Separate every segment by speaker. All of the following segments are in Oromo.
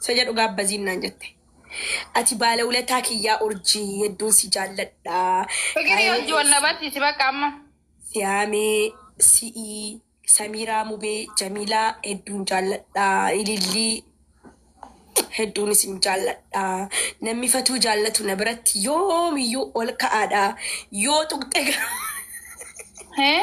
Speaker 1: Isa jedhu gaabbaziin naan jette. Ati baala ulataa kiyyaa urjii hedduun si jaalladha. Fikirii hojii
Speaker 2: wal na barsiisi bakka amma. Siyaamee,
Speaker 1: si'ii, Samiiraa Mubee, Jamiilaa hedduun jaalladha. Ilillii hedduun isin jaalladha. Namni fatuu jaallatu na biratti yoomiyyuu ol ka'aadha. Yoo tuqxe garuu.
Speaker 2: Hee?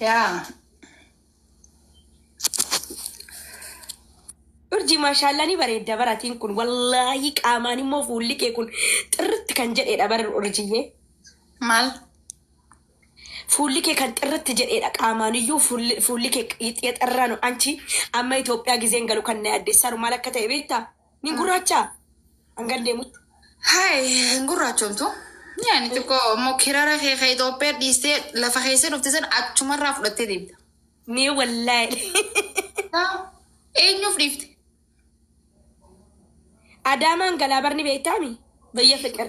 Speaker 1: Yaa. Urjii maashaallaa ni bareedda baratiin kun wallaahi qaamaan immoo fuulli kee kun xirritti kan jedheedha bara urjiyyee. Maal? Fuulli kee kan xirritti jedheedha qaamaan iyyuu fuulli fuulli kee xixxirraa nu anchi amma Itoophiyaa gizeen galu kan na yaaddeessaru maal akka ta'e beektaa? Ni gurraachaa? Hangan deemutti. Haay hin
Speaker 2: gurraachomtu. Yaani xiqqoo immoo kirara kee ka Itoophiyaa dhiistee lafa keessa dhufte san achumarraa fudhattee deemta. Mee wallaahi.
Speaker 1: Taa,
Speaker 2: Eenyuuf dhiifte?
Speaker 1: Adaamaan galaa barni beektaami? Bayya fiqir.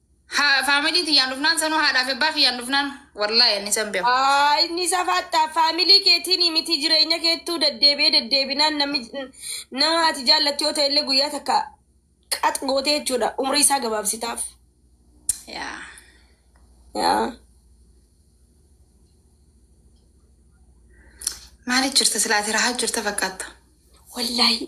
Speaker 2: Haa family tiyyaan dhufnaan sanuu haadhaaf ebbaa kiyyaan dhufnaan wallahi ani san beeku. Aa, inni safaattaa
Speaker 1: faamilii keetiin miti jireenya keettuu deddeebi'ee deddeebinaan namni nama ati jaallattu yoo ta'e illee guyyaa takka qax gootee jechuudha umrii isaa gabaabsitaaf. Yaa. Yaa.
Speaker 2: Maaliif jirta silaati rahaa jirta fakkaatta. Wallaahi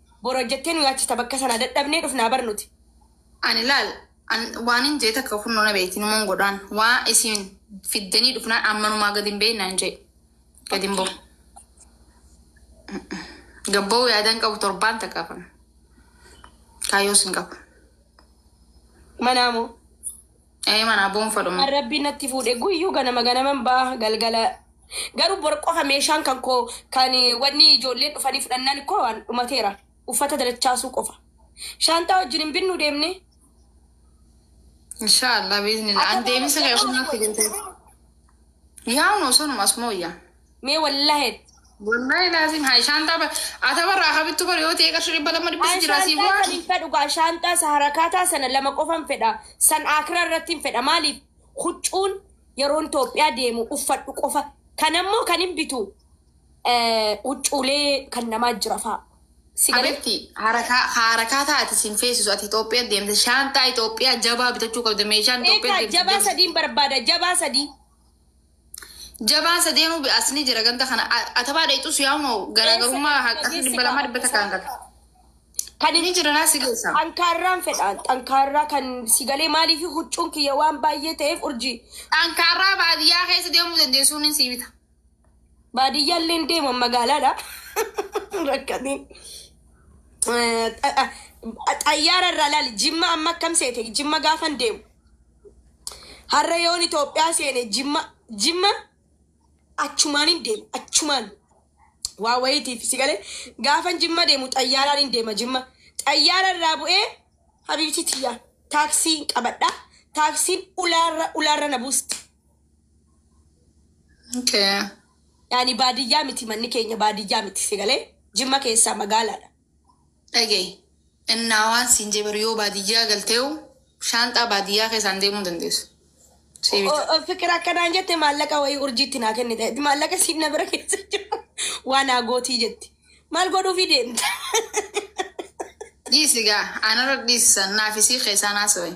Speaker 1: Bor hojjettee nu nyaachista bakka sanaa dadhabnee dhufnaa bar nuti. Ani laal
Speaker 2: an waanin jee takka kunnoo na beeyti numan godhaan waa isiin fiddanii dhufnaan an manumaa gad hin ba'in naan jee gad hin ba'u gad ba'uu yaadaan qabu torbaan takka kan kaayyoos hin qabu.
Speaker 1: Manaa moo.
Speaker 2: Ee manaa boonfa dhuma. Kan rabbiin natti fuudhe
Speaker 1: guyyuu ganama ganaman ba'a galgala garuu bor qofa meeshaan kan koo kan wanni ijoolleen dhufanii fudhannaan koo waan dhumateera uffata dalachaasuu qofa shaanxaa wajjin hin binnu deemne
Speaker 2: Inshaallah biiznillah. An deemisa kee ofumatti galtee. Yaa'u noo sanuma asuma wayyaa. Mee wallahi.
Speaker 1: Wallahi laazim haa shaantaa
Speaker 2: ba ata barraa habittu bar yoo ta'e qarshii dhibba lama dhibbisi jira sii Shaantaa san hin bu'aa. fedhu gaa
Speaker 1: shaantaa isa harakaataa sana lama qofan fedha san akiraa irratti hin fedha maaliif huccuun yeroon Itoophiyaa deemu uffadhu qofa kan ammoo kan hin bitu eh, huccuulee kan namaa jira fa'a. Si galee? Habitti
Speaker 2: harakaa harakaa taati siin feesisu ati Itoophiyaa deemte shaantaa Itoophiyaa jabaa bitachuu qabda meeshaan Itoophiyaa Eegaa deemte jabaa deemte. sadiin
Speaker 1: barbaada jabaa sadii.
Speaker 2: Jabaan sadeenuu bi'aas ni jira ganda kana. A- Atabaa dheexus yaa'unoo garaagarummaa Eessa haqqa dhageessi dhibba lamaa dhibba gaafata takkaan isaa? gata. Kan Ni jira naa si geessa. xankaarraan fedhaan
Speaker 1: xankaarraa kan si galee maaliif huccuun kiyya waan baay'ee ta'eef urjii Xankaarraa
Speaker 2: baadiyyaa keessa deemuu dandeessuun ni sii bita. baadiyyaa
Speaker 1: illee hin deeman magaalaadha. Rakkatee. Xayyaara irraa ilaali jimma amma akkam seete jimma gaafan deemu. Har'a yoon Itoophiyaa seene jimma jimma achumaan hin deema achumaan waa wayiitiif si galee gaafan jimma deemu xayyaaraan hin deema jimma xayyaara irraa bu'ee habiibtii tiyyaa taaksii hin qabadha taaksiin ulaarra ulaarra na buusti. Okay.
Speaker 2: Yaani
Speaker 1: baadiyyaa miti manni keenya baadiyyaa miti si galee jimma keessaa magaalaadha. Dhaga'i,
Speaker 2: innaa waan siin jee bar yoo baadiyyaa galteehu shaanxaa baadiyyaa keessaan deemuu hin dandeessu. Sii bita. O- o- Fiqir akkanaan jette maallaqa wayii urjiitti naa kennite. Maallaqa siin na bira keessa jira. Waa naa gootii jetti. Maal godhuufii deemta? Dhiisi gaa anarra dhiisan naafisii keessaan haasawee.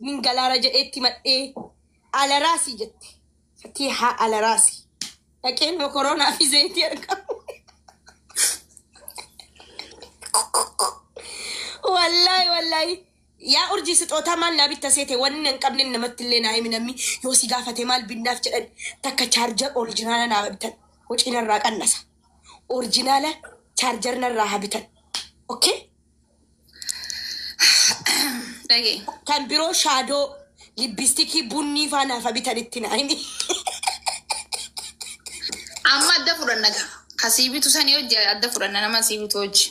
Speaker 1: Nin galaara jedhee itti madhee alaraasi jette. Fatiihaa alaraasi. Dhaqee nama koroonaa fi zayitii argamu. Wallaahi wallaahi. Yaa urjii sixootaa maal naa bitta seete wanni hin qabne namatti illee naa himi namni yoo si gaafate maal binnaaf jedhan takka chaarjar orijinaala naa bitan hocii narraa qannasa. Orijinaala chaarjar narraa haa bitan. Okay? Dhagee. Kan biroo shaadoo libbistikii bunnii faa naaf bitanitti naayini.
Speaker 2: Amma adda fudhanna gaa. Ka sii bitu sanii hojii adda fudhanna nama sii bitu hojii.